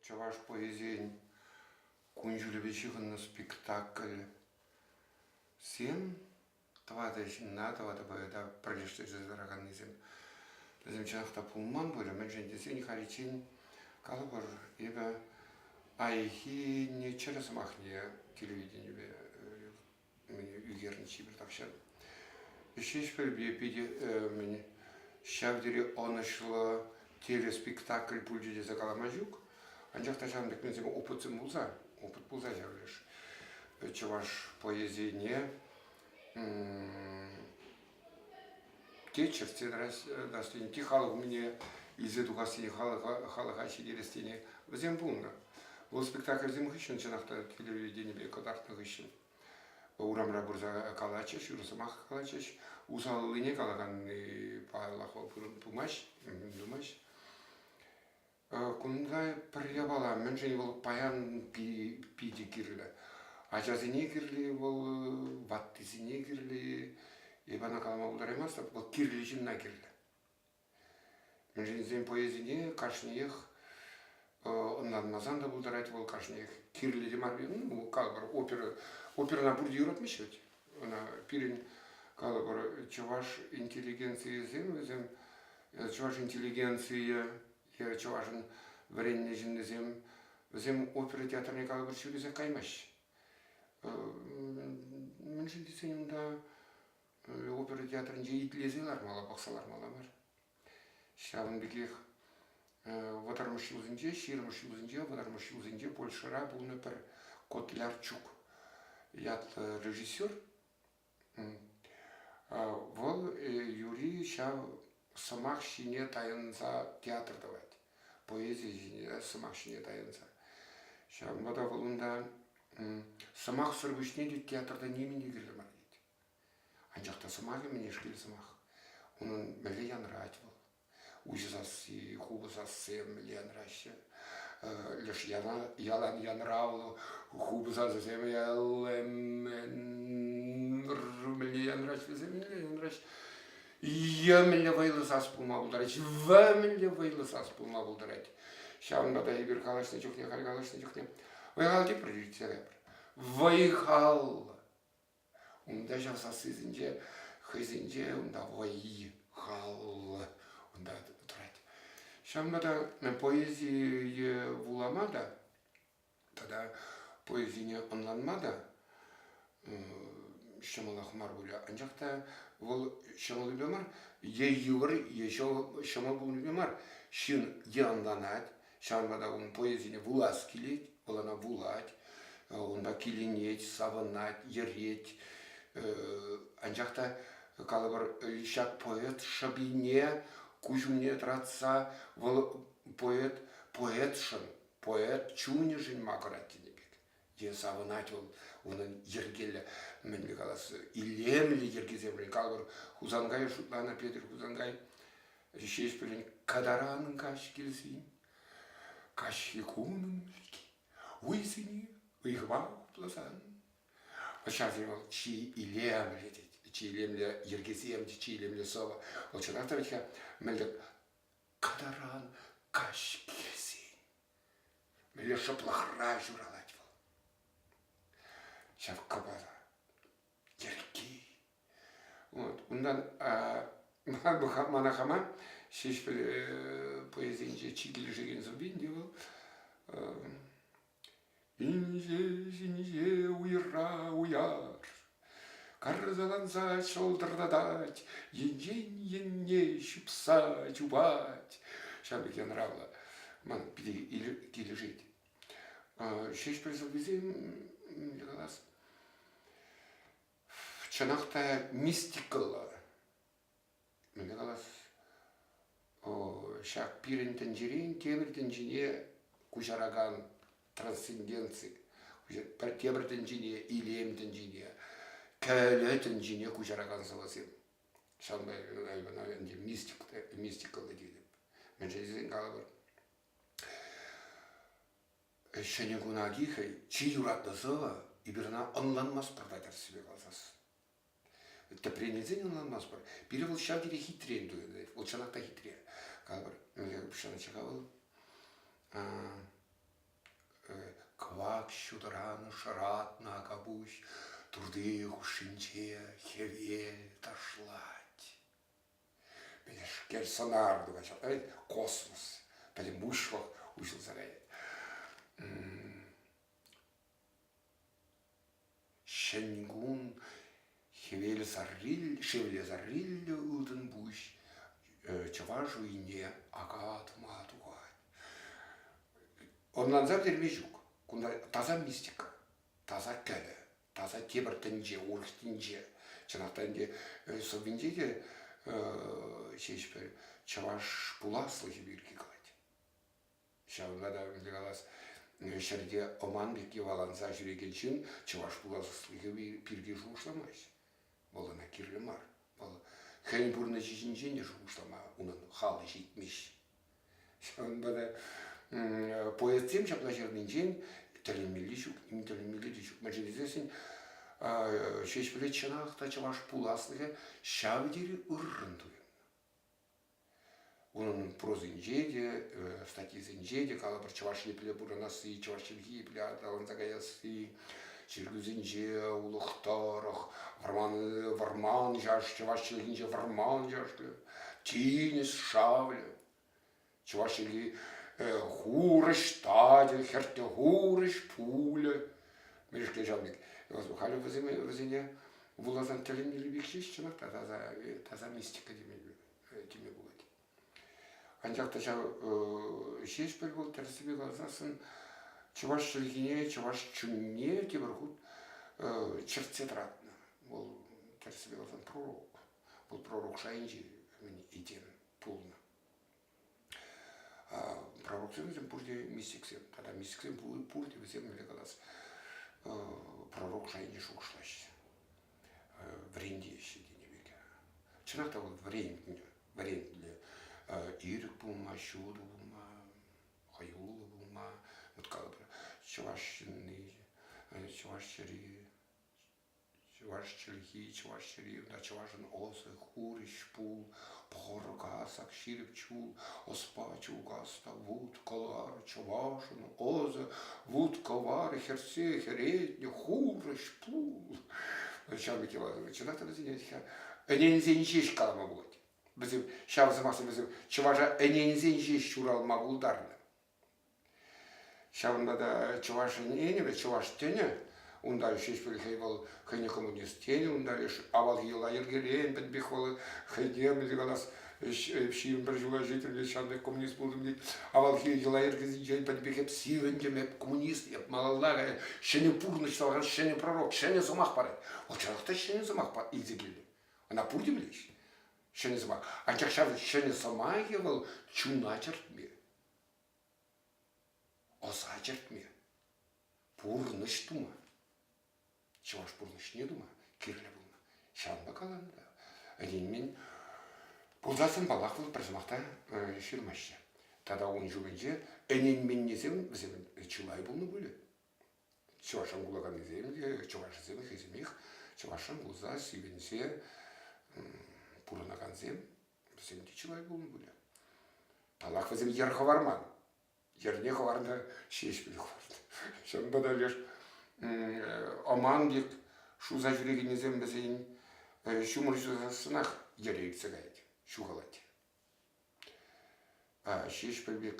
Чӑваш поэзийӗн кун-ҫулӗпе ҫыхӑннӑ спектакльсем тӑватӑ ҫынна, тӑватӑ поэта пӗрлештерсе тӑраканнисем. Вӗсем чӑнах та пулман пулӗ, мӗншӗн тесен халиччен калӑпӑр, эпӗ паянхи не чӗр сӑмахне телевиденипе ӳкернӗ чи пӗр тахҫан. Ҫеҫпӗлпе питӗ мӗн ҫав тери ӑнӑҫлӑ телеспектакль пулчӗ тесе калама ҫук. Анчах та ҫавӑн пек менсем опытсем пулса, опыт пулса ҫав леш чӑваш поэзине те чӗртсе тӑрассине, те халӑх умне илсе тухассине, халӑха, халӑха ҫитерессине вӗсем пулнӑ. Вӑл спектакльсем хыҫҫӑн чӑнах та телевиденипе кӑтартнӑ хыҫҫӑн урамра пырса калатчӗҫ, ырӑ сӑмах калатчӗҫ. Усаллине калаканни, паллах, вӑл пымасть, пымасть. Кунта пӗр япала мӗншӗн вӑл паян питӗ кирлӗ? Ачасене кирли вӑл, ваттисене кирли. Эпӗ ӑна калама пултараймастӑп, вӑл кирли ҫынна кирлӗ. Мӗншӗн тесен поэзине кашниех ӑнланмасан та пултарать вӑл, кашниех кирлӗ те мар. Ну, калӑпӑр, опера, оперӑна пурте юратмаҫҫӗ ведь? ӑна пирӗн калӑпӑр чӑваш интеллигенцийӗсем вӗсем чӑваш интеллигенцийӗ е чӑвашӑн вӗреннӗ ҫыннисем вӗсем опера театрне калӑпӑр ҫӳресех каймаҫҫӗ мӗншӗн тесен унта опера театрӗнче итлесе лармалла пӑхса лармалла мар Ҫавӑн пекех вӑтӑрмӗш ҫулсенче, ҫирӗммӗш ҫулсенче, вӑтӑрмӗш ҫулсенче Польшӑра пулнӑ пӗр Котлярчук ятлӑ режиссер. Вӑл юри ҫав сӑмах ҫине тайӑнса театр тӑвать, поэзи ҫине, сӑмах ҫине тайӑнса. Ҫавӑнпа та вӑл унта сӑмахсӑр пуҫне те театрта нимӗн те кирлӗ мар тет. Анчах та сӑмахӗ мӗнешкел сӑмах. Унӑн мӗнле янрать вӑл. Уҫӑ сасси, хулӑ сасси мӗнле янраҫҫӗ. Леш ялан янравлӑ хупӑ сасӑсем мӗнле янраҫҫӗ вӗсем мӗнле янраҫҫӗ. Е мӗнле вӑйлӑ сас пулма пултарать, в мӗнле вӑйлӑ сас пулма пултарать. Ҫавӑнпа та эпир калаҫнӑ чухне, халь калаҫнӑ чухне вӑй-хал тепӗр тӳссе кайпӑр. Вӑй-хал Унта ҫав сассисенче хӑйсенче унта вӑй, хал унта тӑрать. Ҫавӑнпа та поэзие вулама та тата поэзине ӑнланма та ҫӑмӑлах мар пулӗ. Анчах та вӑл ҫӑмӑллипе мар, е йывӑр, е ҫӑмӑл пулнипе мар. Ҫын е ӑнланать, Ҫавӑнпа та ун поезине вулас килет, вӑл ӑна вулать, унпа киленет, савӑнать, йӗрет. Анчах та калӑпӑр, ҫак поэт шӑпине куҫ умне тӑратса вӑл поэт поэтшӑн, поэт чунӗшӗн макӑрать тенӗ пек. тен, савӑнать вӑл унӑн йӗркеллӗ, мӗнле калас, илемлӗ йӗркисемшӗн. Калӑпӑр, Хусанкай шутланӑ Петӗр Хусанкай Ҫеҫпӗлӗн кадаран каҫ килсен, каҫхи кунӑн вӗлки, уйсене ыйхӑва хупласан, ҫавсем вӑл чи илемлӗ тет, чи илемлӗ йӗркесем, чи илемлӗ сӑвӑ. Вӑл чӑнах та вӗт-ха мӗн тӗк кадаран каҫ килсен. Мире шӑплӑхра ҫуралать вӑл. Ҫав кӑпара, йӗрки. Вот. Унтан мана хама Ҫеҫпӗл поэзийӗнче чи килӗшекен сӑввин те вӑл Ҫиниҫе, ҫиниҫе, уйра уяр. Карсаланса шӑлтӑртатать, енчен енне ҫупса чупать. Ҫав пек янӑравлӑ ман питӗ килӗшет. Ҫеҫпӗл сӑввисем, калас, чӑнах та мистикӑллӑ. мӗнле калас, ҫак пирӗн тӗнчерен тепӗр тӗнчене куҫаракан трансценденци, пӗр тепӗр тӗнчене, илем тӗнчене, кӗлӗ тӗнчене куҫаракан сӑвӑсем. Ҫавӑнпа, наверное, ӗнтӗ мистика, мистикӑллӑ тетӗп. Мӗншӗн тесен калӑпӑр, ҫӗнӗ куна ки хӑй чи юратнӑ сӑвӑ эпир ӑна ӑнланмастпӑр та тӗрӗссипе каласас. Тӗпрен илсен ӑнланмастпӑр. Пире вӑл ҫав тери хитрен туйӑнать. Вӑл чӑнах та хитре. Калӑпӑр, упҫӑнӑччӗ-ха вӑл. Кӑвак ҫутӑран шӑратнӑ акапуҫ турти хушшинче хӗвел ташлать. Пӗлешкер сӑнар тухать, космос. Пӗлӗм уҫлӑх уҫӑлса каять. Ҫӗнкун, шевле сарриллӗ ылтӑн пуҫ чӑваш уйне ака тума тухать. Ӑнланса пӗтерме ҫук. Кунта таса мистика, таса кӗлӗ, таса тепӗр тӗнче, урӑх тӗнче. Чӑнах та ӗнтӗ сӑввинче те ҫеҫ пӗр чӑваш пуласлӑхӗ пирки калать. Ҫавӑнпа та ӗнтӗ калас, ҫӗрте ӑман пек йӑваланса ҫӳрекен ҫын чӑваш пуласлӑхӗ пирки шухӑшламасть. Вӑл ӑна кирлӗ мар. Вӑл хӑйӗн пурнӑҫӗ ҫинчен те шухӑшлама унӑн халӗ ҫитмест. Ҫавӑнпа та поэтсем ҫапла ҫырнинчен тӗлӗнмелли ҫук, ним тӗлӗнмелли те ҫук. Мӗншӗн тесен Ҫеҫпӗле чӑнах та чӑваш пуласлӑхӗ ҫав тери ыррӑн туйӑннӑ. Унӑн прозинче те, статйисенче те калӑпӑр Чӑваш Епле пурӑнасси, чӑваш чӗлхи епле аталанса каясси, чиркӳсенче улӑх тӑрӑх, вӑрман, вӑрман чаш, чӑваш чӗлхинче вӑрман чашкӑ, тинӗс шавлӗ. Чӑваш Енри хурӑҫ тачӑ, хӗртнӗ хурӑҫ пулӗ. Мӗнешкел ҫавӑн пек. Халӗ вӗсене, вӗсене вуласан тӗлӗнмелли пек ҫеҫ чӑнах та таса, таса мистика теме, теме пулать. Анчах та ҫав ҫеҫпӗл вӑл тӗрӗссипе каласан чӑваш чӗлхине, чӑваш чунне тепӗр хут чӗртсе тӑратнӑ. Вӑл тӗрӗссипе каласан пророк. Вӑл пророк шайӗнче мӗн этем пулнӑ. Пророксем вӗсем пурте мистиксем тата мистиксем пурте вӗсем мӗнле калас пророк шайне шухӑшлаҫҫӗ вӗрентеҫҫӗ тенӗ пек чӑнах та вӑл вӗрентнӗ вӗрентнӗ ирӗк пулма ҫутӑ пулма хӑюллӑ пулма вот как бы чӑваш ҫынни чӑваш чӗри Чӑваш чӗлхи, чӑваш чӗри, кунта чӑвашӑн ӑсӗ, хурӑҫ, пул, пӑхӑркасак, ҫирӗп чул, ӑспа, чулкас та вут кӑлар, чӑвашӑн ӑсӗ, вут кӑвар, хӗрсе хӗретнӗ, хурӑҫ, пул. Ҫав пек йӑла чӑнах та вӗсене ӗненсен ҫеҫ калама пулать. Вӗсем, ҫав сӑмахсем вӗсем чӑваша ӗненсен ҫеҫ ҫуралма пултарнӑ. Ҫавӑнпа та Чӑваш Енӗпе чӑваш тӗнӗ, унта Ҫеҫпӗл хӑй вӑл хӑйне коммунист тенӗ, унта авалхи йӑла-йӗркерен пӗтӗм пек вӑл хӑйне мӗнле калас, ҫирӗм пӗр ҫула ҫитрӗ ҫантӑк коммунист пултӑм тет. Авалхи йӑла-йӗркесенчен пӗтӗм пек эп сивӗнтӗм, эп коммунист, эп малалла ҫӗнӗ пурнӑҫ тӑвакан ҫӗнӗ пророк, ҫӗнӗ сӑмах парать. Вӑл чӑнах та ҫӗнӗ сӑмах илсе килнӗ. Ӑна пурте пӗлеҫҫӗ, ҫӗнӗ сӑмах. Анчах ҫав ҫӗнӗ сӑмахӗ вӑл чуна чӗртме. Ӑса чӗртме, пурнӑҫ тума, чӑваш пурнӑҫне тума кирлӗ пулнӑ. Ҫавӑнпа каланӑ та. Ӗненмен пулсассӑн, паллах, вӑл пӗр сӑмах та ҫырмаҫҫӗ. Тата ун ҫумӗнче ӗненменнисем вӗсем чылай пулнӑ пулӗ. Чӑвашран кулаканнисем те, чӑвашсем хӑйсемех чӑвашран кулса, сивӗнсе пурӑнакансем Вӗсем те чылай пулнӑ пулӗ. Танах вӗсем йӗр хӑварман. Йӗрне хӑварнӑ ҫеҫ пӗле хӑварнӑ. Ҫавӑнпа та леш ӑман пек шуса ҫӳрекеннисем вӗсен ҫумӑр ҫусассӑнах йӗре ӳксе каять, ҫухалать. Ҫеҫпӗл пек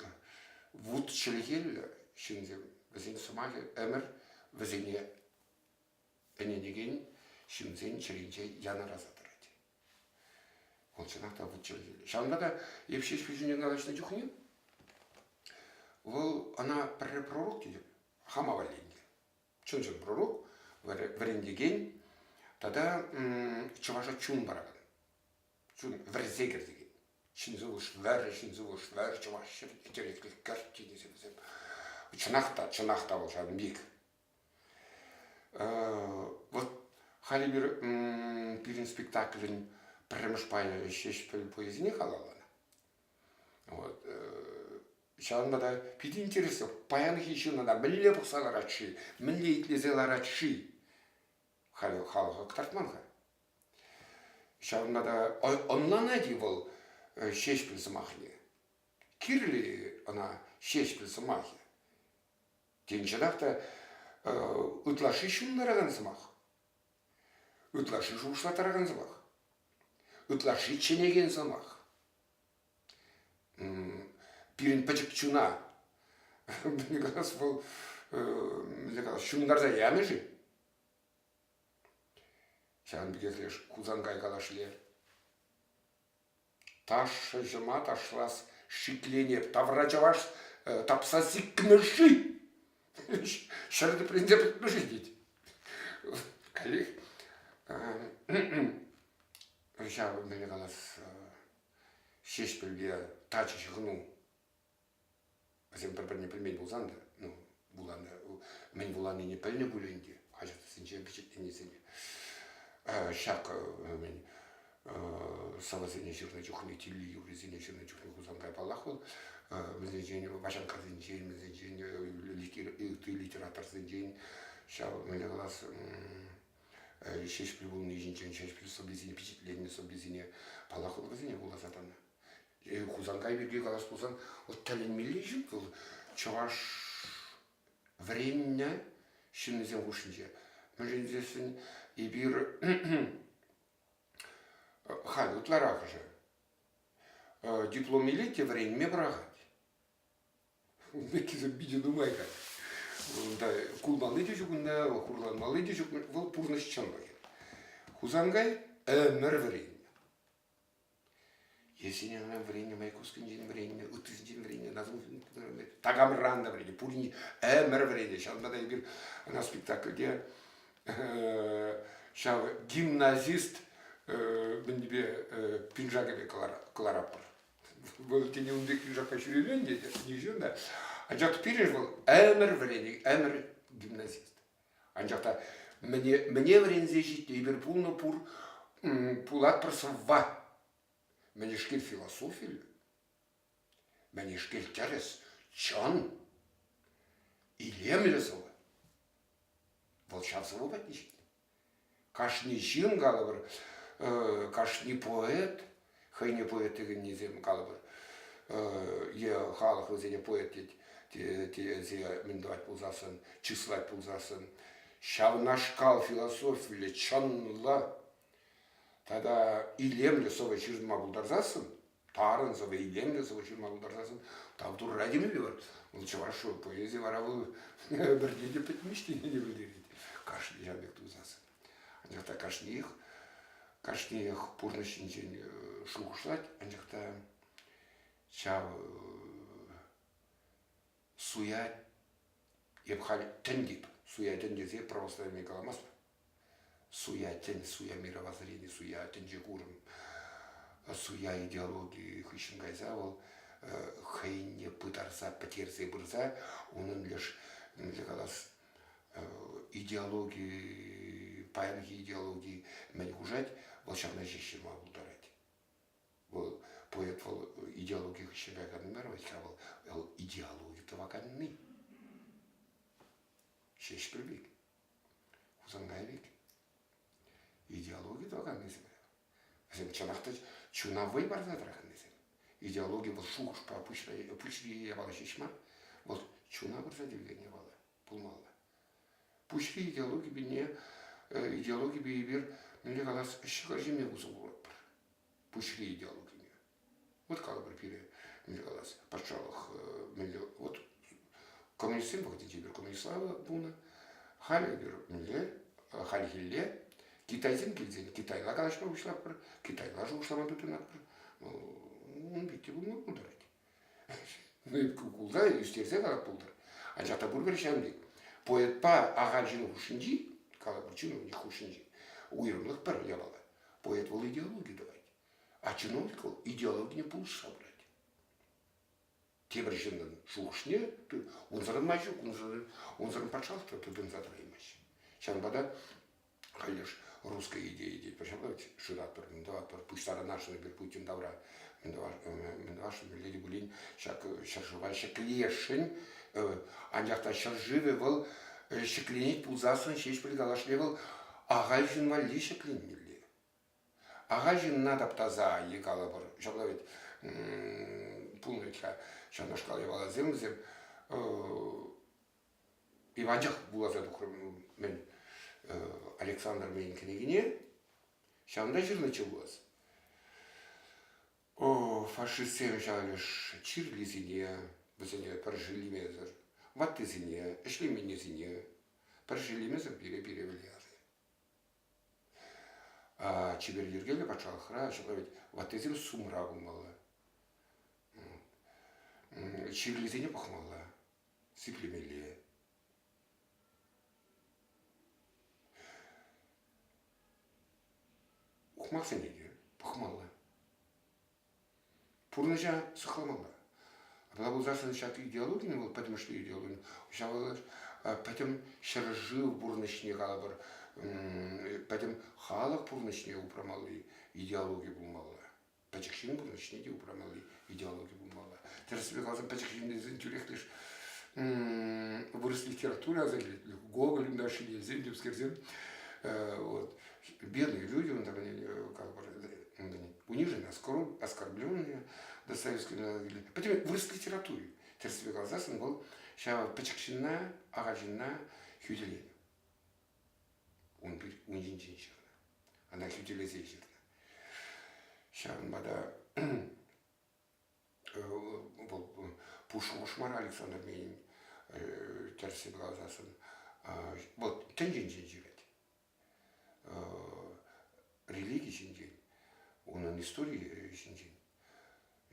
вут чӗлхеллӗ ҫынсем, вӗсен сӑмахӗ ӗмӗр вӗсене ӗненекен ҫынсен чӗринче янӑраса тӑрать. Вӑл чӑнах та вӑтчӑ. Ҫавӑнпа та эп ҫеҫ пиҫӳне калаҫнӑ чухне вӑл ӑна пӗрре пророк тетӗп, хама валли ӗнтӗ. Чӑн-чӑн пророк, вӗрентекен тата чӑваша чун паракан, чун вӗрсе кӗртекен. Ҫын сывлӑш вӗр, ҫын сывлӑш вӗр, чӑваш ҫӗр, интереслӗ кӗрт тенӗ вӗсем. Чӑнах та, чӑнах та вӑл ҫавӑн пек Вот халӗ пирӗн спектаклӗн пӗрремӗш пайӗ ҫеҫпӗл поэзине халалланӑ. Вот. Ҫавӑнпа та питӗ интереслӗ. Паянхи ҫынна та мӗнле пӑхса ларать-ши, мӗнле итлесе ларать-ши халӗ халӑха кӑтартман-ха. Ҫавӑнпа та ӑнланать-и вӑл Ҫеҫпӗл сӑмахне? Кирлӗ-и ӑна Ҫеҫпӗл сӑмахӗ? Темшех те ытлашши ҫын тӑракан сӑмах, ытлашши шухӑшлаттаракан сӑмах, ытлашши чӗнекен сӑмах. Пирӗн пӗчӗк чуна, мӗнле калас, вӑл мӗнле калас, ҫунтарса янӑ-ши? Ҫавӑн пекех леш Хусанкай калашле Ташӑҫӑма ташлас шиклене тавра чӑваш тапса сикмӗ-ши? Ҫӗр тӗпренсе пӗтмӗ-ши тет. Каллех ҫав мӗне калас Ҫеҫпӗлпе тачӑ ҫыхӑну. Вӗсем пӗр-пӗрне пӗлмен пулсан та, ну, вуланӑ, мӗн вуланине пӗлнӗ пуль ӗнтӗ хаҫатсенче пичетленнисене. Ҫак мӗн сӑвӑсене ҫырнӑ чухне, тилли-юррисене ҫырнӑ чухне Хусанкай паллах вӑл вӗсенчен, Ваҫанккасенчен, вӗсенчен, литераторсенчен ҫав мӗнле калас Ҫеҫпӗл пулни ҫинчен Ҫеҫпӗл сӑввисене пичетленнӗ сӑввисене паллах вуласа тӑнӑ. Хусанкай пирки калас пулсан, вот тӗлӗнмелли ҫын вӑл чӑваш вӗреннӗ ҫыннисем хушшинче. Мӗншӗн тесен эпир халь ытларахӑшӗ диплом илет те вӗренме пӑрахать. Это питӗ нумай как. Унта кулмалли те ҫук унта, хурланмалли те ҫук. Вӑл пурнӑҫ чӑнлӑхӗ. Хусанкай ӗмӗр вӗреннӗ. Ешенена вӗреннӗ, Майкускинчен вӗреннӗ, ыттисенчен вӗреннӗ, Назлутдинов такамран та вӗреннӗ, пурин ӗмӗр вӗреннӗ. Ҫавӑнпа та эпир ӑна спектакльте ҫав гимназист мӗнпе пиншакӗпе кӑларатпӑр. Вӑл тени ун пек пиншакпа ҫӳрелен тетӗ, ничего, анчах пирӗн вӑл ӗмӗр вӗреннӗ, ӗмӗр гимназист. Анчах та мӗне, мӗне вӗренсе ҫитнӗ эпир пулнӑ пур, пулатпӑр сӑвва. Мӗнешкел философи, мӗнешкел тӗрӗс, чӑн, илемлӗ сӑвӑ. Вӑл ҫав сӑвӑ патне ҫитнӗ. Кашни ҫын, калӑпӑр, кашни поэт, хӑйне поэт текеннисем, калӑпӑр, е халӑх вӗсене поэт тесе мӗн тӑвать пулсассӑн, чыслать пулсассӑн, ҫавнашкал философиллӗ, чӑнлӑ тата илемлӗ сӑвӑ ҫырма пултарсассӑн тарӑн сӑвӑ-илемлӗ сӑвӑ ҫырма пултарсассӑн тав турра темелле вӑл. Вӑл чӑваш поэзи вара вӑл пӗрне те пӗтмест тенине пӗлтерет кашни ҫав пек тусасӑн. Анчах та кашниех кашниех пурнӑҫ ҫинчен э, шухӑшлать, анчах та ҫав э, суя эп халь тӗн тип суя тӗн тесе православие каламастпӑр суя тӗн суя мировоззрение суя тӗнче курӑм суя идеологи хыҫҫӑн кайса вӑл хӑйне пытарса пӗтерсе пырса унӑн леш мӗнле калас идеологи паянхи идеологи мӗн хушать вӑл ҫакна ҫеҫ ҫырма пултарать Вӑл поэт вӑл идеологи хыҫҫӑн каяканни мар вӗт-ха вӑл, вӑл идеологи тӑваканни. Ҫеҫпӗл пек, Хусанкай пек идеологи тӑваканнисем. Вӗсем чӑнах та чуна вӑй парса тӑраканнисем. Идеологи вӑл шухӑшпа пуҫри япала ҫеҫ мар, вӑл чуна пырса тивген япала. пулмалла. Пуҫри идеологипе идеологипе эпир мӗнле калас ҫӑкӑр ҫиме усӑ куратпӑр. Пуҫри идеологине. Вот калӑпӑр пире, мӗнле калас, патшалӑх мӗнле, вот коммунистсем вӑхӑтӗнче эпир коммунистла пулнӑ, халӗ эпир мӗнле, хальхилле китайсем килсен китайла калаҫма пуҫлатпӑр, китайла шухӑшлама тытӑнатпӑр. Ун пирки пулма пултарать. Гуглра ӳстерсе калас пултӑр. Анчах та пурпӗр ҫавӑн пек. Поэтпа ахаль ҫыннӑн хушшинчи, калӑпӑр чиновник хушшинчи уйрӑмлӑх пӗр япала. Поэт вӑл идеологи тӑвать, а чиновник вӑл идеологине пулӑшса пырать. Тепӗр ҫыннӑн шухӑшне унсӑрӑн май ҫук, унсӑрӑн, унсӑрӑн патшалӑхра тытӑнса тӑраймасть. Ҫавӑнпа та Конечно, русская идея здесь пожаловать, шыратпӑр, мӗн тӑватпӑр, пуҫтарӑнасшӑн эпир Путин тавра. Мӗн тӑвасшӑн, мӗнле те пулин ҫак ҫӗршыва ҫӗклесшӗн. Анчах та ҫӗршывӗ вӑл ҫӗкленет пулсассӑн ҫеҫпӗл калашле вӑл ахаль ҫын валли ҫӗкленмелле. Ахаль ҫынна таптаса е калӑпӑр, ҫапла вӗт, пулнӑ вӗт-ха ҫавнашкал япаласем вӗсем Иванчах вуласа тухрӑм-мӗн Александр мӗн кӗнекине. Ҫавӑнта ҫырнӑччӗ пулас. Фашистсем ҫаврӗҫ чирлисене, вӗсене пӗр шеллемесӗр, ваттисене, ӗҫлеменнисене пӗр шеллемесӗр пире-пире вӗлернӗ. Чипер йӗркеллӗ патшалӑхра ҫапла вӗт ваттисем сумра пулмалла. Чирлисене пӑхмалла. сиплемелле. Ухмахсене те пӑхмалла. Пурнӑҫа сыхламалла. Апла пулсассӑн ҫак идеологин вӑл пӗтӗмӗшле идеологин ҫавӑ пӗтӗм ҫӗршыв пурнӑҫне калӑпӑр пӗтӗм халӑх пурнӑҫне упрамалли идеологи пулмалла. пӗчӗк ҫын кун ӗҫне те упрамалли идеологи пулмалла. Тӗрӗссипе каласан, пӗчӗк ҫыннисен тӳрех леш вырӑс литератури аса килет, Гоголь ӳнташҫи тесен, темскерсем, вот, бедные люди, он так они, как бы, у них же оскорбленные до советского народа. Поэтому вырос в литературе. Тӗрӗссипе каласан, он был ҫав пӗчӗк ҫынна, ага ҫынна хӳтӗленӗ. ун пит ун ҫинчен ҫырнӑ. Ӑна хӳтӗлесе ҫырнӑ. Ҫавӑнпа та вӑл пушмар Александр Менин тӗрсе каласассӑн вӑл тӗнченчен ҫырать. Религи ҫинчен, унӑн историйӗ ҫинчен.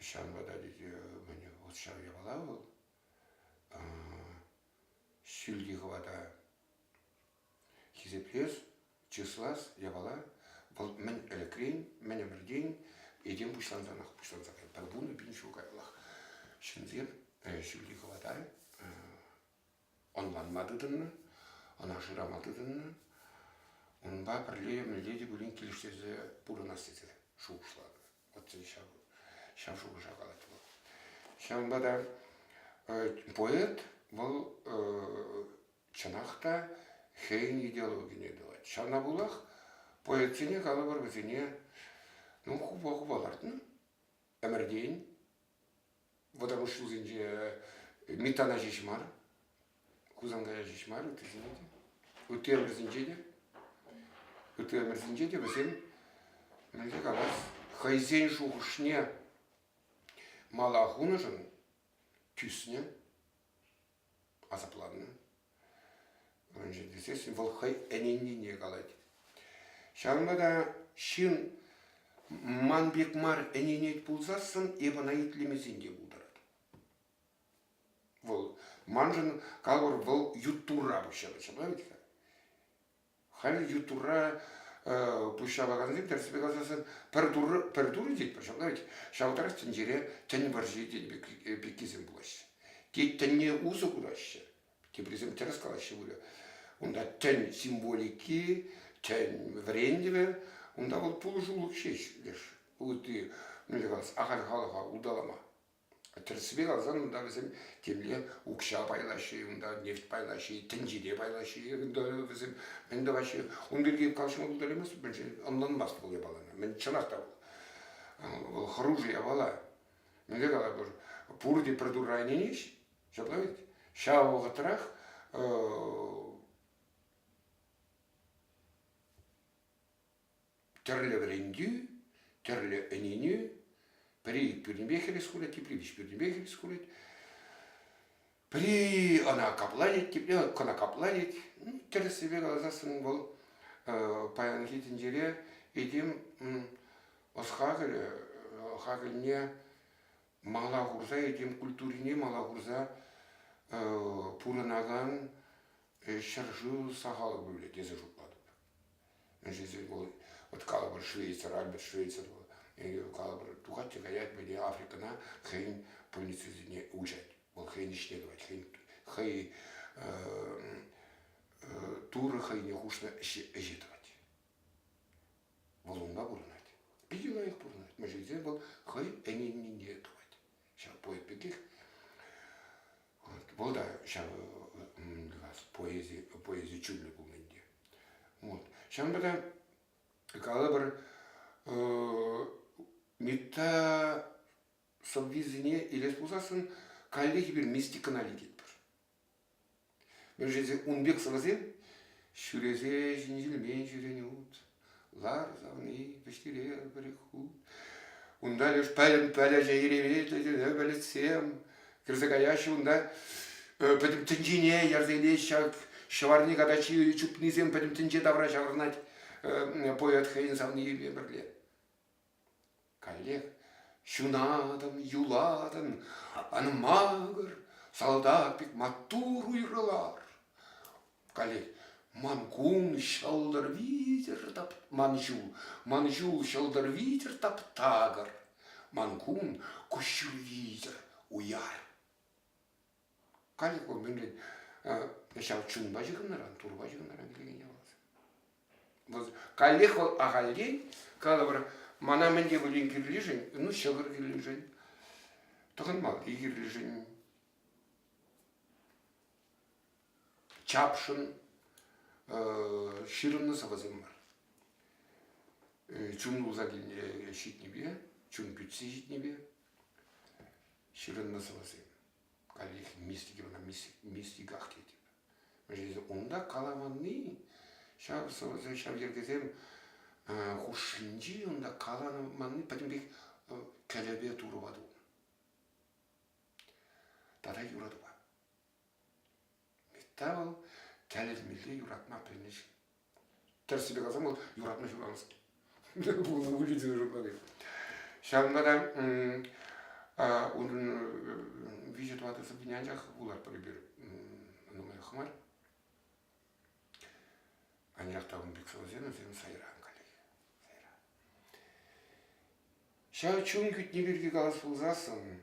Ҫавӑнпа та мӗн вӑл ҫав япала вӑл. Ҫӳлти хӑвата Хисеплес, чыслас япала вӑл мӗн ӗлӗкрен, мӗн ӗмӗртен этем пуҫлансанах пуҫланса кайнӑ. Пӗр вунӑ пин ҫул каяллах ҫынсем ҫӳлти хӑвата ӑнланма тытӑннӑ, ӑна шырама тытӑннӑ. Унпа пӗрле мӗнле те пулин килӗштерсе пурӑнас тесе шухӑшлатӑп. ҫав шухӑша калать вӑл. Ҫавӑнпа та поэт вӑл чӑнах та хӑйӗн идеологине тӑвать. Ҫавна пулах поэтсене калӑпӑр вӗсене ну хупа-хупа лартнӑ ӗмӗртен вӑтӑр ҫул ҫулсенче Митана ҫеҫ мар, Хусанкая ҫеҫ мар ыттисене те, ытти ӗмӗрсенче те, ытти ӗмӗрсенче те вӗсем мӗнле калас, хӑйсен шухӑшне мала хунӑшӑн тӳснӗ, асапланнӑ. Мӗншӗн тесен вӑл хӑй ӗненнине калать. Ҫавӑнпа та ҫын ман пек мар ӗненет пулсассӑн эп ӑна итлемесен те пултарать. Вӑл, маншӑн калӑр, вӑл ют Турра пуҫҫапать, ҫапла ведь-ха? Халь ют Турра пуҫ ҫапакансем тӗрӗссипе каласан пӗр Турӑ пӗр Турӑ тет ҫавна ведь ҫав тарах тӗнчере тӗн вӑрҫи тен пеккисем пулаҫҫӗ. Те тӗнне усӑ кураҫҫӗ, теприсем тӗрӗс калаҫҫӗ пулӗ. Унта тӗн символики, тӗн вӗрентӗвӗ, унта вӑл пулӑшулӑх ҫеҫ леш ытти мӗнле калас ахаль халӑха улталама. Тӗрӗссипе каласан, унта вӗсем темле укҫа пайлаҫҫӗ, унта нефть пайлаҫҫӗ, тӗнчере пайлаҫҫӗ унта вӗсем. Мӗн тӑваҫҫӗ? Ун пирки калаҫма пултарамасть, мӗншӗн ӑнланмасть вӑл япалана. Мӗн чӑнах та вӑл хӑрушӑ япала. Мӗнле калатпӑр, пурте пӗр турра ӗненеҫҫӗ, ҫапла ведь? Ҫав вӑхӑтрах Тӗрлӗ вӗрентӳ, тӗрлӗ ӗненӳ. Пӗри пӳрнипех хӗрес тепри виҫ пӳрнипех хӗрес курать. Пӗри ӑна капланет, тепри кӑна капланет. Ну, тӗрӗссипе каласан вӑл паянхи тӗнчере этем ӑс-хакӑлӗ, хакӑлне мала хурса, этем культурине мала хурса пурӑнакан ҫӗршыв сахал пулӗ тесе шутлатӑп. Ӗҫӗсем вӑл вот калӑпӑр швейцар, Альберт Швейцар вӑл, ӗнер калӑпӑр тухать те каять, мӗне Африкӑна хӑйӗн пульницисене уҫать. Вӑл хӑйӗн ӗҫне тӑвать, хӑйӗн, хӑй Турӑ хӑйне хушнӑ ӗҫе тӑвать. Вӑл унпа пурӑнать. Питӗ лайӑх пурӑнать. Мӗншӗн тесен вӑл хӑйӗн ӗненнине тӑвать. ҫав поэт пекех вӑл та ҫав поэзи, поэзи чунлӑ пулнӑ ӗнтӗ. Вот. Ҫавӑнпа та калӑпӑр мета сӑввисене илес пулсассӑн каллех эпир мистикӑна лекетпӗр. Вӗрҫесем ун пек сӑвӑсем ҫӳресе ҫинҫелмен ҫӳренут, лар савни вӗҫтере пӗр хут. Унта леш пӗлӗм пӗлӗчӗ иремет летене пӗлӗтсем кӗрсе каяҫҫӗ унта пӗтӗм тӗнчене ярса илет ҫав ҫӑварни катачи чупнисем пӗтӗм тӗнче тавра ҫаврӑнать поэт хӑйӗн савнийӗпе пӗрле. Каллех ҫунатӑн, юлатӑн, ан макӑр, салтак пек маттур уйрӑлар. Каллех ман кун ҫӑлтӑр витӗр тап... ман ҫул, ман ҫул ҫӑлтӑр витӗр таптакӑр, ман кун куҫҫуль витӗр уяр. Калӗ мӗнле ҫав чунпа ҫыхӑннӑран, турпа ҫыхӑннӑран килген явап. Вӑл каллех вӑл ахальтен калӑпӑр мана мӗн те пулин кирлишӗн, ну ҫӑкӑр кирлишӗн, тӑхӑнмалла кирлишӗн, чапшӑн ҫырӑннӑ сӑвӑсем мар. Чун тулса ҫитнипе, чун кӳтсе ҫитнипе ҫырӑннӑ сӑвӑсем. Каллех мистики вара мистиках тетӗп. Мӗншӗн унта калаванни, ҫав сӑвӑсем, ҫав йӗркесем хушшинчи унта каланманни пӗтӗм пек кӗлӗпе турӑва тунӑ. Тата юратупа. Митта вӑл тӗлӗнмелле юратма пӗлнӗҫ. Тӗрӗссипе каласан, вӑл юратма ҫуралнӑ. Пулнӑ выльӑхсене шутланӑ. Ҫавӑнпа та унӑн виҫӗ-тӑватӑ сӑввине анчах вулатпӑр эпир нумаях мар. Анчах та ун пек сӑвӑсем вӗсем сайран каллех. Сайран. Ҫав чун кӳтни пирки калас пулсассӑн,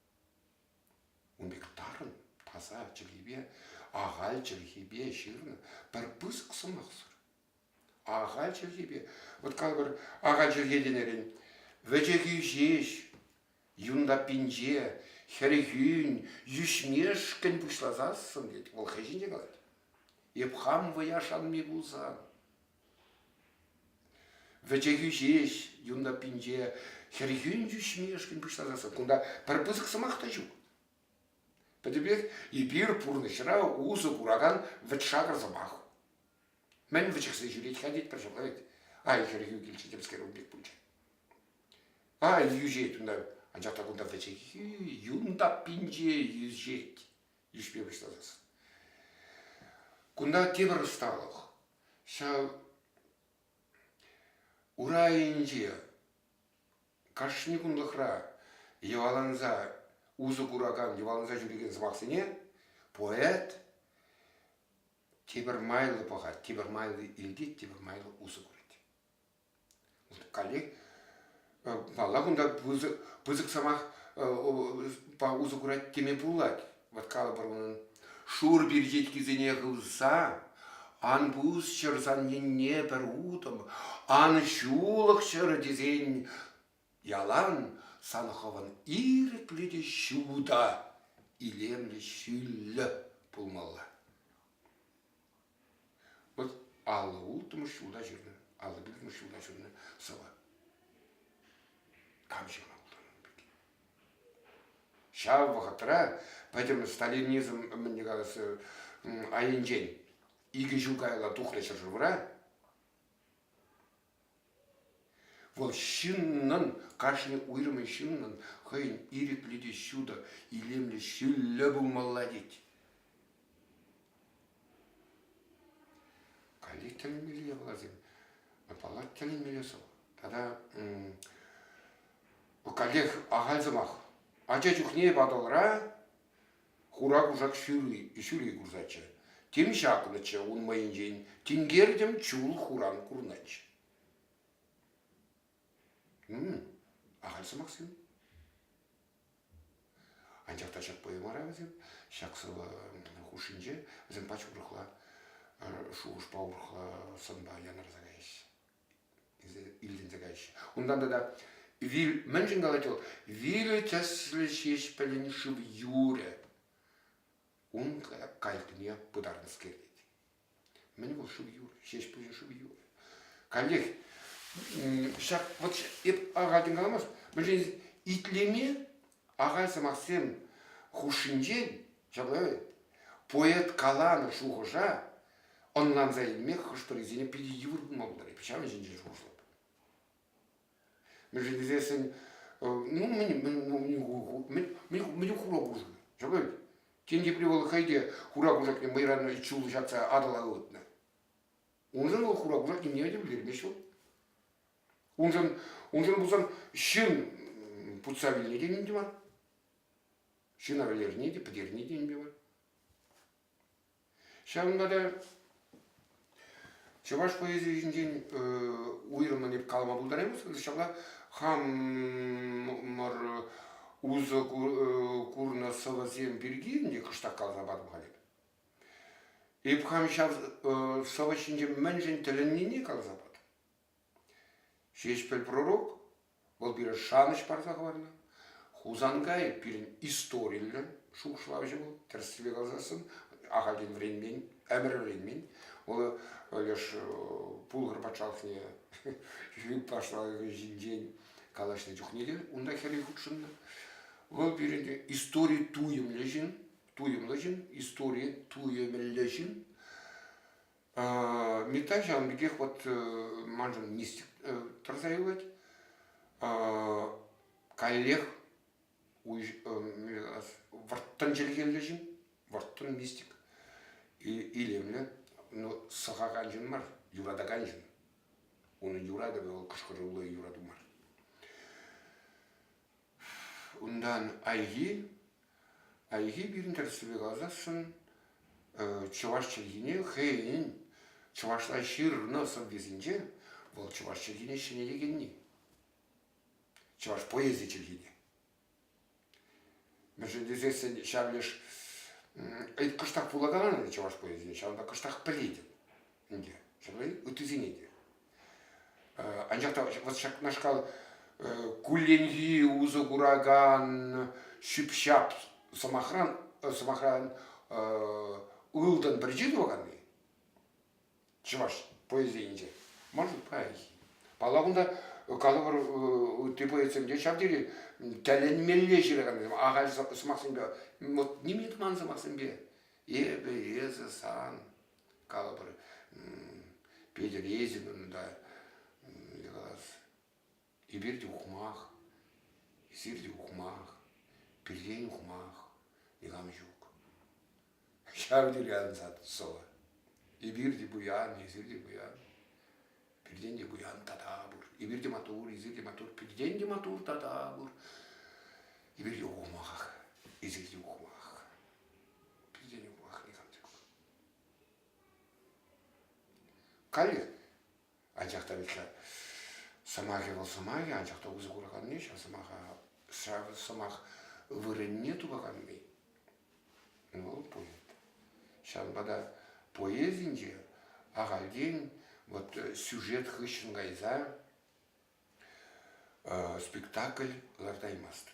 Ун пек тарӑн, таса чӗлхепе, ахаль чӗлхепе ҫырнӑ пӗр пысӑк сӑмахсӑр. Ахаль чӗлхепе. Вот калӑпӑр, ахаль чӗлхе тенӗрен, вӗчӗхӳ ҫеҫ, юнлаппинче, хӗрхӳн, йӳҫмешкӗн пуҫласассӑн, тет, вӑл хӑй ҫинче калать. Эп хам вӑя шанми пулсан. Вӗчехӳ ҫеҫ юн таппинче хӗрхӳн тӳсмешкӗн пуҫласа кунта пӗр пысӑк сӑмах та ҫук. Пӗтӗмпех эпир пурнӑҫра усӑ куракан вӗт-шакӑр сӑмах. Мӗн вӗчӗхсе ҫӳрет-ха тетпӗр ҫӑкла вӗт. Ай хӗрхӳ килчӗ темскер ун пек пулчӗ. Ай йӳҫет унта, анчах та кунта вӗчехӳ юн таппинче йӳҫет. йышпе пуҫланас. Кунта тепӗр ӑсталӑх. Ҫав урайӗнче кашни кунлӑхра йӑваланса усӑ куракан, йӑваланса ҫӳрекен сӑмахсене поэт тепӗр майлӑ пӑхать, тепӗр майлӑ илтет, тепӗр майлӑ усӑ курать. Каллех малла кунта пысӑк сӑмах усӑ курать теме пулать. Вот калӑпӑр унӑн. Шур перчеткисене хывса ан пус ҫӗр санненне пӗр утӑм, ан ҫулӑх ҫӗрӗ тесен ялан сан хӑвӑн ирӗклӗ те ҫутӑ, илемлӗ ҫӳллӗ пулмалла. Вӑт аллӑ улттӑмӗш ҫулта ҫырнӑ, аллӑ пилӗкмӗш ҫулта ҫырнӑ сӑвӑ. Кам ҫырмалла ун пирки? Ҫав вӑхӑтра пӗтӗм сталинизм мӗнне калаҫса айӗнчен икӗ ҫул каялла тухнӑ ҫӗршывра Вӑл ҫыннӑн, кашни уйрӑмӗн ҫыннӑн хӑйӗн ирӗклӗ те ҫутӑ, илемлӗ, ҫӳллӗ пулмалла тет. Каллех тӗлӗнмелле япаласем. Паллах, тӗлӗнмелле сӑв. Тата каллех ахаль сӑмах. Ача чухне Патӑлра Хура кушак ҫырли ҫӳле курсаччӗ. Тем ҫакнӑччӗ ун мӑйӗнчен, тинкертӗм чул хуран курнӑччӗ. Ахаль сӑмахсем. Анчах та ҫак поэмӑра вӗсем, ҫак сӑвӑ хушшинче вӗсем пач урӑхла, шухӑшпа урӑхла сӑнпа янӑраса каяҫҫӗ. тесе илтӗнсе каҫҫӗ. Унтан тата вил мӗншӗн калать вӑл? Вилӗ тӗслӗ ҫеҫ пӗлен шыв юрӗ. Ун кайӑкне пытарнӑскер тет. Мӗн вӑл шыв юрӗ? Ҫеҫ пӗлен шыв юрӗ. Каллех ҫак вот эп ага каламасть. Мӗншӗн итлеме Ахаль сӑмахсем хушшинчен ҫапла поэт каланӑ шухӑша ӑнланса илме хӑш-пӗрисене питӗ йывӑр пулма пултарать. Ҫавӑн ҫинчен шухӑшлап. Мӗншӗн тесессӗн ну мӗн мӗн хура кушак ҫапла тен тепри вӑл хӑй те хура кушакне мӑйранри чуллӑ ҫапса Атӑла ывӑтнӑ. Уншӑн вӑл хура кушак нимене те пӗлтермест вӑл. Уншӑн, уншӑн пулсан ҫын путса вилни те ним те мар. Ҫына вӗлерни те, пӗтерни те ним те мар. Ҫавӑнпа та чӑваш поэзийӗ ҫинчен э, уйрӑммӑн эп калама пултараймастӑп. Ҫапла хамӑр усӑ курнӑ сӑвӑсем пирки ӗнтӗ кӑштах каласа патӑм халь. Эп хам ҫав э, сӑвӑ ҫинче мӗншӗн тӗлӗннине каласа патӑм. Ҫеҫпӗл пророк вӑл пире шанӑҫ парса хӑварнӑ. Хусанкай пирӗн историллӗ шухӑшлавҫӑ вӑл, тӗрӗссипе каласассӑн, ахальтен вӗренмен, ӗмӗр вӗренмен. Вӑл леш Пулхӑр патшалӑхне юлташлӑхӗ ҫинчен калаҫнӑ чухне те унта хӗрӳ хутшӑннӑ. Вӑл пирӗн истори туйӑмлӑ ҫын, туйӑмлӑ ҫын, истори туйӑмӗллӗ ҫын. Митта ҫавӑн пекех вот маншӑн мистик тӑрса юлать. Каллех вӑрттӑн чӗлхеллӗ ҫын, вӑрттӑн мистик, илемлӗ, но сӑхакан ҫын мар, юратакан ҫын. Унӑн юратӑвӗ вӑл кӑшкӑруллӑ юрату мар. Унтан хайхи, хайхи пирӗн тӗрӗссипе каласассӑн чӑваш чӗлхине хӑйӗн чӑвашла ҫырнӑ сӑввисенче вӑл чӑваш чӗлхине ҫӗнетекенни. Чӑваш поэзи чӗлхи те. Мӗншӗн тесессӗн ҫав леш ыйткӑштах пулакан ӗнтӗ чӑваш поэзине, ҫавӑнпа кӑштах пӗлетӗп. ӗнтӗ. Ыттисене те. Анчах та вот ҫакнашкал кулленхи усӑ куракан ҫӳп-ҫап сӑмахран сӑмахран ылтӑн пӗрчи тӑваканни чӑваш поэзийӗнче может паянхи палла кунта калӑпӑр ытти поэтсемде ҫав тери тӗлӗнмелле ҫыракансем ахаль сӑмахсемпе вот нимӗн туман сӑмахсемпе эпӗ эсӗ сан калӑпӑр, Петӗр Езин унта калас, эпир те ухмах, эсир те ухмах, пиртен ухмах, никам ҫук. Ҫав тери ансат сӑвӑ. Эпир те пуян, эсир те пуян. Пиртен те пуян тата пур. Эпир те матур, эсир те матур, пиртен те матур тата пур. Эпир те ухмах, эсир те ухмах. Пиртен ухмах никам ҫук. Каллех. Анчах та ведь сӑмахӗ вӑл сӑмахӗ, анчах та усӑ кураканни ҫав сӑмаха, ҫав сӑмах вырӑнне тупаканни. Ну, поэт. Ҫавӑнпа та поэзинче ахальтен вот сюжет хыҫҫӑн кайса спектакль лартаймастӑн.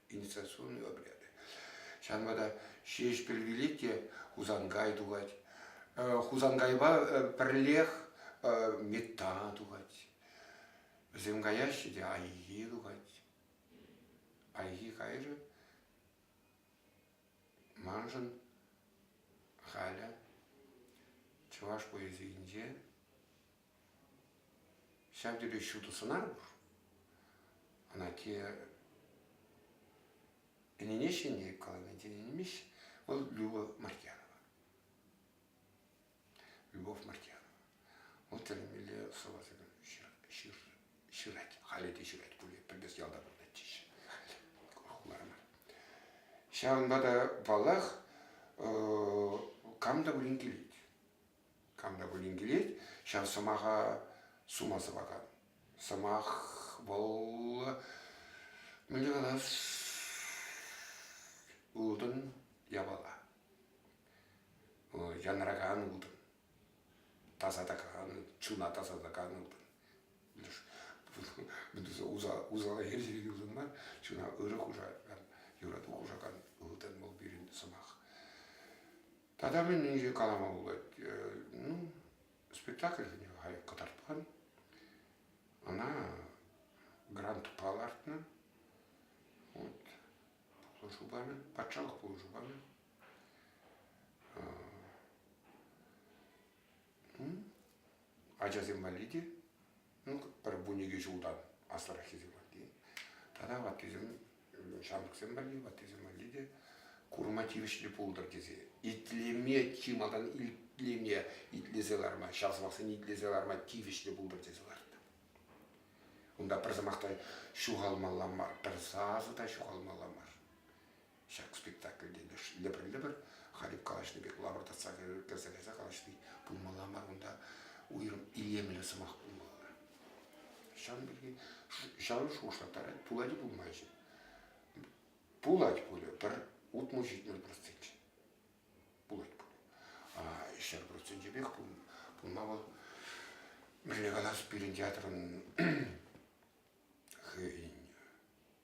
Административный обряд. Ҫавӑнпа та Ҫеҫпӗл вилет те Хусанкай тухать. Хусанкайпа пӗрлех Метта тухать. Вӗсем каяҫҫӗ те Айхи тухать. Айхи кайрӗ. Маншӑн халӗ чӑваш поэзийӗнче Ҫав тери ҫутӑ сӑнар пур. Ӑна те ӗненеҫҫӗ те каланать, ӗненмеҫҫӗ. Вӑл Любовь Мартьянова. Любовь Мартьянова. Вӑл тӗлӗнмелле сӑвӑсем ҫыр, ҫырать. Халӗ те ҫырать пулӗ. Пӗр пес ялта пурӑнать теҫҫӗ. Хуларма. Ҫавӑнпа та, паллах, кам та пулин килет. Кам та пулин килет, ҫав сӑмаха сума сӑвакан. Сӑмах вӑл мӗн калас ылтӑн япала. Янракан ылтӑн, тасатакан, чуна тасатакан ылтӑн. Усала хирсерекен ылтӑн мар, чуна ырӑ хушакан, юрату хушакан ылтӑн вӑл пирӗн сӑмах. Тата мӗн инҫе калама пулать, ну, спектакльсене халь кӑтартман. Ӑна грантпа лартнӑ. Вот, пулӑшу памӗ, патшалӑх пулӑшу памӗ. Ачасем валли те, ну, пӗр-вун икӗ ҫултан аслӑраххисем валли тата ваттисем, ҫамрӑксем валли, ваттисем валли те курма тивӗҫлӗ пултӑр тесе. Итлеме чи малтан итлеме, итлесе ларма, ҫав сӑмахсене итлесе ларма тивӗҫлӗ пултӑр тесе лартнӑ. Унта пӗр сӑмах та ҫухалмалла мар, пӗр сасӑ та ҫухалмалла мар. ҫак спектакльте лӗпӗр-лӗпӗр халӗ калаҫнӑ пек лапӑртатса кӗрсе кайса калаҫни пулмалла мар унта уйрӑм илемлӗ сӑмах пулмалла ҫавӑн пирки ҫавӑн шухӑшлаттарать пулать пулмаҫҫӗ пулать пулӗ пӗр утмӑл ҫитмӗл процент пулать пулӗ ҫӗр процентӗпех пулма вӑл мӗнле калас пирӗн театрӑн хӑйӗн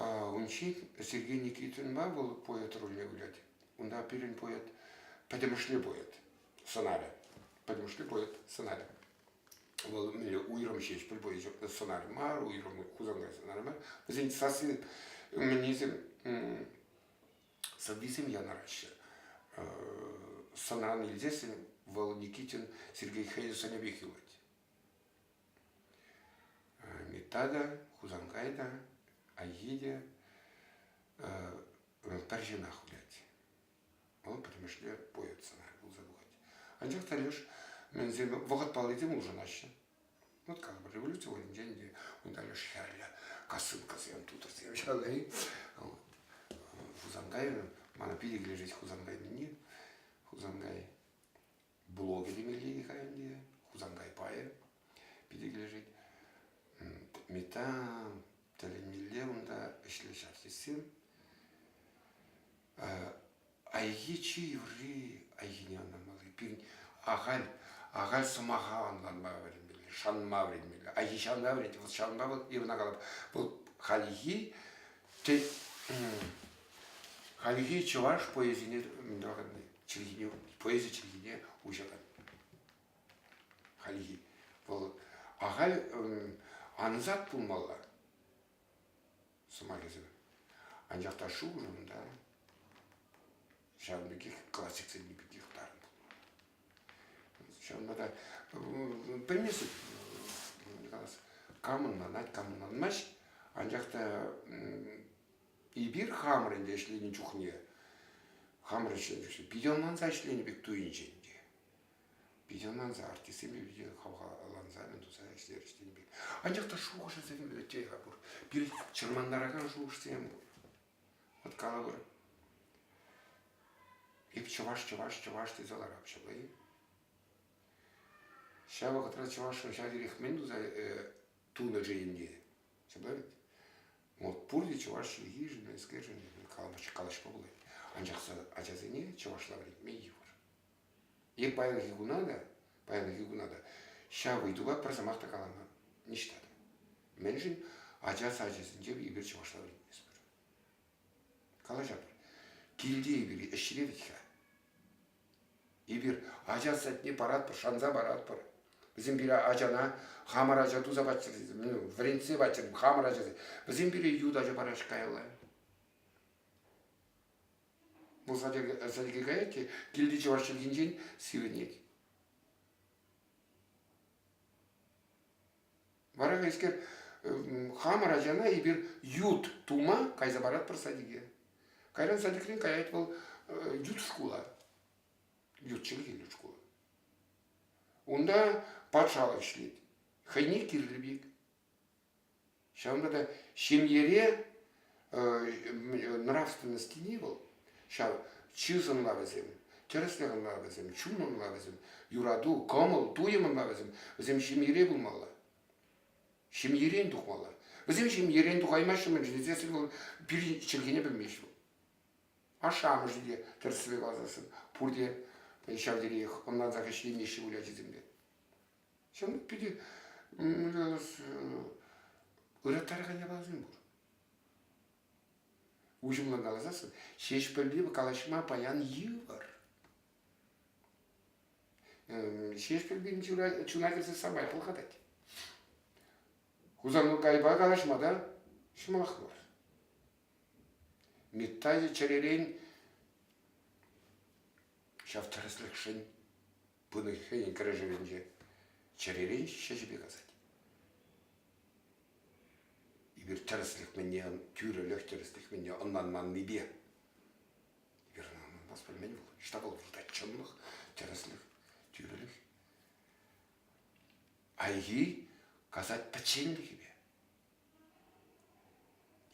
Ун ҫих Сергей Никитинпа вӑл поэт рольне вылять. Унта пирӗн поэт пӗтӗмӗшле поэт сӑнарӗ. Пӗтӗмӗшле поэт сӑнарӗ. Вӑл мӗнле уйрӑм ҫеҫ пӗр поэт сӑнарӗ мар, уйрӑм Хусанкай сӑнарӗ мар. Вӗсен сасси мӗннисем сӑввисем янӑраҫҫӗ. Сӑнран илсессӗн вӑл Никитин Сергей Хейзер сӑнӗ пек юлать. Митата, Хусанкайта, Айхите пӗр ҫынах вылять. Вӑл пӗтӗмӗшле поэт сӑнарӗ пулса тухать. Анчах та леш мӗнсем вӑхӑт паллисем улшӑнаҫҫӗ. Вот как бы революци вӑйӗнче ӗнтӗ унта леш хӗрлӗ косынкӑсем, тутӑрсем ҫавай. Хусанкайран мана питӗ килӗшет Хусанкай мени. Хусанкай блогӗ темелле Михаилне, Хусанкай пайӗ питӗ килӗшет. Метан тӗлӗнмелле унта ӗҫлӗҫ артистсем. Айхи чи юрри айхине ӑнламалли. Пирӗн ахаль, ахаль сӑмаха ӑнланма вӗренмелле, шанма вӗренмелле. Айхи ҫавна вӗрентет, вӑл ҫавӑнпа вӑл ивана калап. Вӑл хальхи хальхи чӑваш поэзине тӑраканни. чӗлхине, поэзи чӗлхине уҫатать. Хальхи. Вӑл ахаль ансат пулмалла сӑмахӗсем. Анчах та шухӑшӑм та ҫавӑн пекех классиксене пекех тарӑн. Ҫавӑнпа та пӗлместӗп камӑнланать, камӑнланмасть. Анчах та Эпир хамӑр ӗнтӗ ӗҫленӗ чухне хамӑр ӗҫленӗ чухне питӗ ӑнланса ӗҫленӗ пек туйӑнчӗ ӗнтӗ. Питӗ ӑнланса артистсемпе питӗ хавхаланса мӗн туса ӗҫлерӗҫ тенӗ пек. Анчах та шухӑшӗсем те пур. Пирӗн чӑрмантаракан шухӑшсем пур. Вот калӑпӑр, эп чӑваш, чӑваш, чӑваш тесе ларап ҫапла-и? Ҫав вӑхӑтра чӑвашшӑн ҫав терех мӗн туса тунӑ-ши ӗнтӗ? Теперь вот пурте чӑваш чӗлхишӗн, нескершӗн калаҫ, калаҫма пулать. Анчах ачасене чӑвашла вӗрентме йывӑр. Е паянхи куна та, паянхи куна та ҫав ыйтупа пӗр сӑмах та калама ниҫта та. Мӗншӗн ача сачӗсенче эпир чӑвашла вӗрентместпӗр. Калаҫатпӑр. Килте эпир ӗҫре вӗт-ха. Эпир ача садне паратпӑр, шанса паратпӑр. Вӗсем пире ачана хамӑр ача туса паччӑр, ну, вӗрентсе паччӑр, хамӑр ачасем. Вӗсем пире ют ача параҫ каялла. Пулса сӗлки каять те килти чӑваш чӗлхинчен сивӗнет. Вара хайскер хамӑр ачана эпир ют тума кайса паратпӑр садике. Кайран садикрен каять вӑл ют шкула. Ют чӗлхеллӗ шкула. Унта патшалӑх ӗҫлет. Хӑйне кирлӗ пек. Ҫавӑнпа та ҫемьере нравственностьни вӑл ҫав чыс ӑнлавӗсем, тӗрӗслӗх ӑнлавӗсем, чун ӑнлавӗсем, юрату, кӑмӑл, туйӑм ӑнлавӗсем, вӗсем ҫемьере пулмалла. Ҫемьерен тухмалла. Вӗсем ҫемьерен тухаймаҫҫӗ-мӗн тесен вӑл пирӗн чӗлхене пӗлмест вӑл. Ашшӗ-амӑшӗ те тӗрӗслеве каласассӑн пурте ҫав териех ӑнлансах ӗҫлемеҫҫӗ выль ачисем те. Ҫавӑн пек питӗ ыраттаракан япаласем пур. Уҫӑмлӑн каласассӑн ҫеҫпӗлпе калаҫма паян йывӑр. Ҫеҫпӗлпин чуна, чуна кӗрсе самай хӑлхатать. Хусанкайпа калаҫма та ҫӑмах мар. Миттай чӗререн ҫав тӗрӗслӗхшӗн пынӑ хӑйӗн кӗрешӗвӗнче чӗререн ҫӗҫӗпе касать. Эпир тӗрӗслӗх мӗнне, тӳрӗлӗх тӗрӗслӗх мӗнне ӑнланманнипе вернонас пӗлмен вӑл. Ҫтапал выртать чӑнлӑх, тӗрӗслӗх, тӳрӗлӗх. Айхи касать пӗччен пекипе.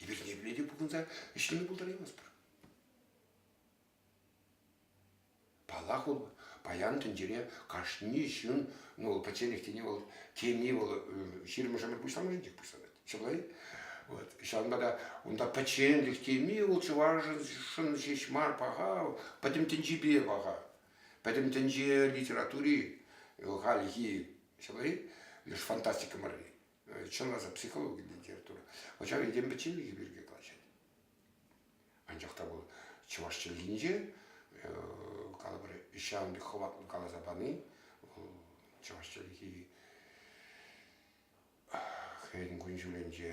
Эпир ниепле те пухӑнса ӗҫлеме пултараймастпӑр. Паллах, вӑл паян тӗнчере кашни ҫын, ну, вӑл пӗчченех тени вӑл теми вӑл ҫирӗммӗшӗмӗр пуҫламӑшӗн пек пуҫланать. Ҫапла-и? Вот. Ҫавӑнпа та унта пӗчченлӗх теми вӑл чӑвашшӑн ҫеҫ мар паха, пӗтӗм тӗнчепе паха. Пӗтӗм тӗнче литератури вӑл хальхи, ҫапла-и? Леш фантастика марри. Чӑнласа психологи литература. Ача хӑйсен пӗчченлӗхӗ пирки калаҫать. Анчах та вӑл чӑваш чӗлхинче калӑпӑр ҫавӑн пек хӑватлӑ каласа пани вӑл чӑваш чӗлхи хӑйӗн кун-ҫулӗнче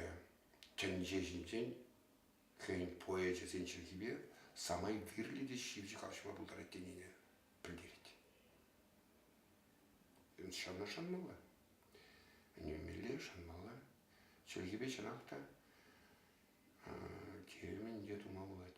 тӗнче ҫинчен хӑйӗн поэчӗсен чӗлхипе самай кирлӗ те ҫивӗч калаҫма пултарать тенине пӗлтерет. Ҫавна шанмалла. Ӗненмелле, шанмалла. Чӗлхепе чӑнах та Килӗмӗн те тума пулать.